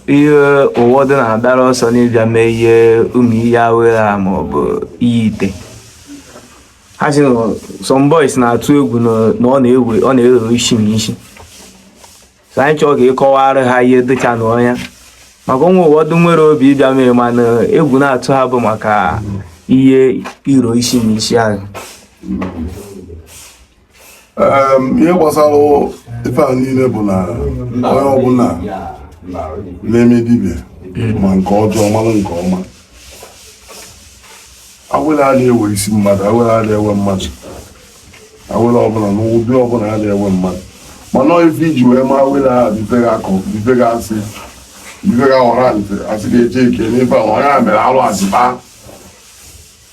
ihe ụfọdụ na-agbara ọsọ n'ịbịa mee ihe ụmụ ihe awere a ma ọ bụ ihe ite ha sị na some boys na-atụ egwu na na ọ na-ewe ọ na-ewe isi na isi so anyị chọọ ka ị kọwaara ha ihe dịcha na ya maka o nwere ụfọdụ nwere obi ịbịa mee mana egwu na-atụ ha bụ maka ihe iro isi na isi ahụ ihe gbasara ife a niile bụ na onye ọbụla na-eme dibịa ma nke ọjọọ mara nke ọma awele arọ ewe isi mmadụ awele arọ ewe mmadụ awele ọbụla n'ụdị ọbụla arọ ewe mmadụ mana ife iji wee ma awele a bụ ife ga-akọ bụ ife ga-asị bụ ife ga ọra ntị asị ga-eche ike n'ife a onye a mere alụ asị kpaa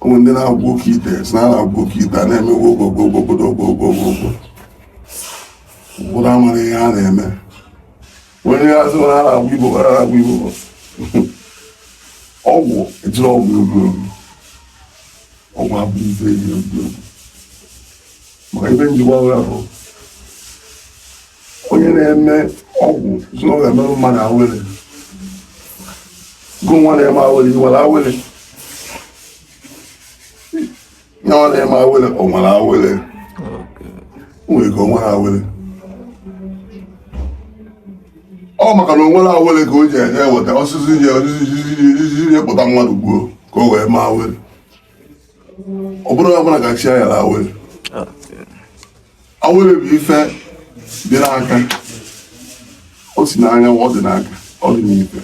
o nwee ndị na-agwọ oke ite sị na a na-agwọ oke ite a na-eme gwogwogwogwogwogwogwogwo ụfọdụ amarọ ihe a na-eme onye a sị na na-agwọ igbo gwara na-agwọ igbo ọgwụ ejirọ ọgwụ egwu egwu ọgwụ abụ ife eji egwu egwu maka ife njikwa ọgwụ bụ onye na-eme ọgwụ sị na ọ ga-emerụ mmadụ awele gụ nwa na-eme awele ị nwere awele ya ọ na-eme awele o nwere awele o nwere ka o nwere awele ọ maka na o nwere awele ka o ji eje eweta osisi ji kpụta mmadụ gbuo ka o wee mee awele ọ bụrụ onye ọbụla ka chi ya nyere awele awele bụ ife dị n'aka o si n'anya ọ dị n'aka ọ dị n'ife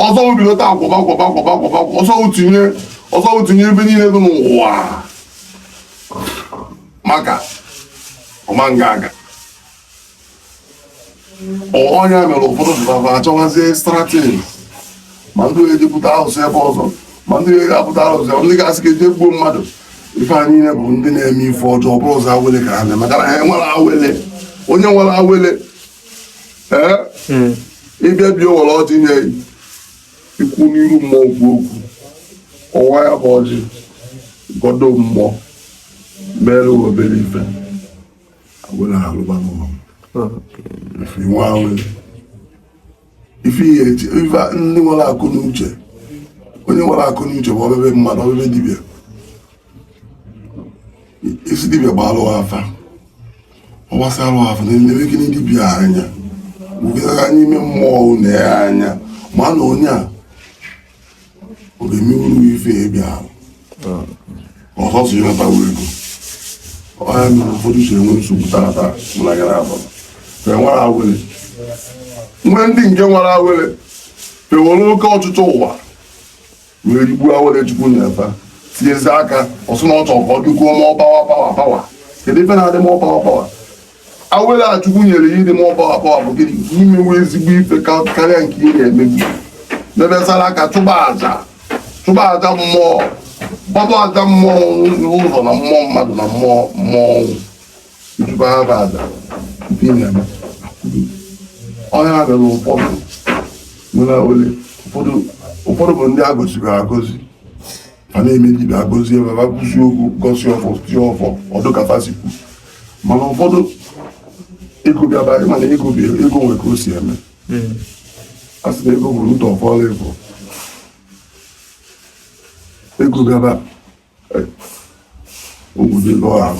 ọzọ bido taa kwọba ọzọ tinye ọzọ tinye ebe niile dị n'ụwa maka ọma nga aga ọ ya mere ụfọdụ pụtara achọwazie strategy ma ndị eje bute arụsị ebe ọzọ ma ndị ga-ebute arụsị ndị ga-asị ka e jee gbuo mmadụ ife anyị niile bụ ndị na-eme ife ọjọọ bụrụ ụzọ awele ka ha na maka na ha nwere awele onye nwere awele ee hmm. ị bịa bịa were ọjị nye ikwu n'iru mmụọ okwu okwu ọwa ya bụ ọjị gọdo mmụọ mere obere ife ife ihe eji ife ndị nwere akọ na uche onye nwere akọ na uche bụ obebe mmadụ obebe dibịa ị sị dibịa gbaalụ afa ọ gbasịalụ afa na-elebe gịnị dibịa anya wugara n'ime mmụọ na ya anya ma na onye a oge mmiri uru ife ebe ahụ ọzọ si nata wee ego ọ ya mere ụfọdụ si enwe nsogbu taa taa mụ na gara abụọ fe nwere awele nwe ndị nke nwere awele fa ewere oke ọchịchọ ụwa wee rigbuo awele chukwu nye fa tinyezi aka ọ sị na ọ chọrọ ka ọ dịkwuo more power power power kedu ife na-adị more power power awele chukwu nyere ya ịdị more power ọ bụ gịnị nke i mewe ezigbo ife ka- karịa nke ị na-emebu mebe saraka chụba aja chụba aja mmụọ gbaba aja mmụọ ụzọ na mmụọ mmadụ na mmụọ mmụọ ọnwụ ị chụba ya bụ aja nke ị na-eme ọ ya mere ụfọdụ nwere awele ụfọdụ ụfọdụ bụ ndị a goziri agozi a na-eme dibịa agọzie ebe ha kwusi okwu gọsi ọfọ tie ọfọ ọ dị ka fa si kwu mana ụfọdụ ego bịaba anyị mana ego bi ego nwe ka o si eme a sị na ego bụ ndụ ọfọla ịbụ ego bịaba eh, obodo lụọ ahụ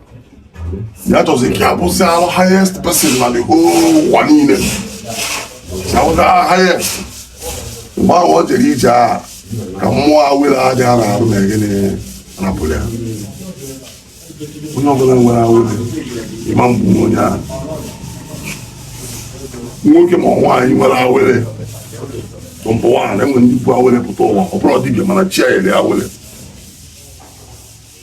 ya chọzi ka ya bụzịalụ highest person na the whole ụwa niile ya bụzịalụ highest mgbe ahụ ọ jere ije aka mmụọ awele dị ya n'arụ na gịnị rapụrụ ya onye ọbụla nwere awele ịma mgbu onye ahụ nwoke ma nwaanyị nwere awele tụmadụ nwaanyị e nwere ndị bu awele pụta ụwa ọ bụrụ dibịa mana chi ya nyere awele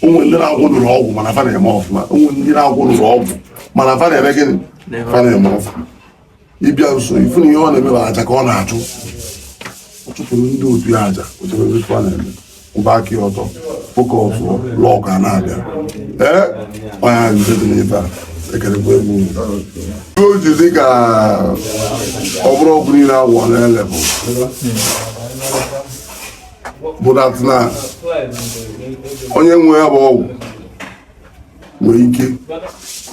o nwe ndị na-agwọrọrọ ọgwụ mana fa na-eme ọfụma o nwe ndị na-agwọrọrọ ọgwụ mana fa na-eme gịnị fa na-eme ọfụma ị bịa nso ị fụ na ihe ọ na-eme bụ aja ka ọ na-achụ ọ chụpụrụ ndị otu ya aja o chebebe fa ọ na-eme kwụba aka ya ọtọ of course luck a na-abịa ee onye nje dị n'ebe a ekerekwa ọgwụ o ji dị ka ọ bụrụ ọgwụ niile a gwọ na-ele bụ that na onye nwe ya bụ ọgwụ nwere ike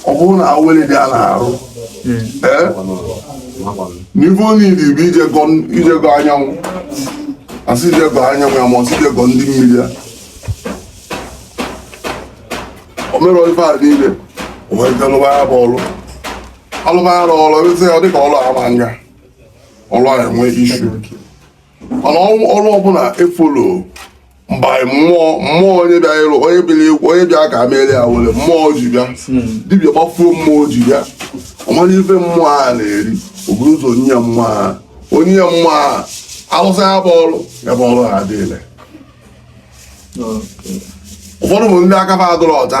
ọ bụrụ na awele dị ya n'arụ n'ife niile bụ ije gọọ anyanwụ a sị i je gọọ anyanwụ ya ma ọ sị i je gọọ ndị mmiri ya o mere ife a niile o wee lụba ya bụ ọrụ a lụba ya ọrụ ezi ya dịka ọrụ ama nga ọrụ a enwe ishu mana ọrụ ọbụla efolo mgbe mmụọ mmụọ onye bịa ịrụ onye bịara ọgwụ onye bịa ka e meere ya were mmụọ ji bịa dibịa gbafuo mmụọ ji bịa ọ mara ife mmụọ a na-eri o buru ụzọ nye ya mmụọ a o nye ya mmụọ a a rụsịa ya bụ ọrụ ya bụ ọrụ adị ile ụfọdụ bụ ndị aka fa adịrọ ọcha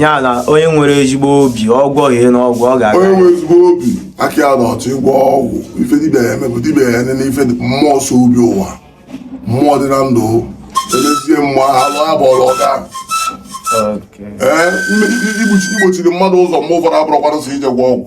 ya na onye nwere ezigbo obi ọ gwọọ ihe n'ọgwụ ọ ga-aga onye nwere ezigbo obi aka ya dị ọcha ịgwọ ọgwụ ife dibịa ya eme bụ dibịa ya nene ife mmụọ so bịa ụwa mmụọ dị na ndụ elezie mmụọ alụ abụọla ọ ga ee igbochiri mmadụ ụzọ mgbe ụfọdụ abụrọkwanụ sọ ije gwọ ọgwụ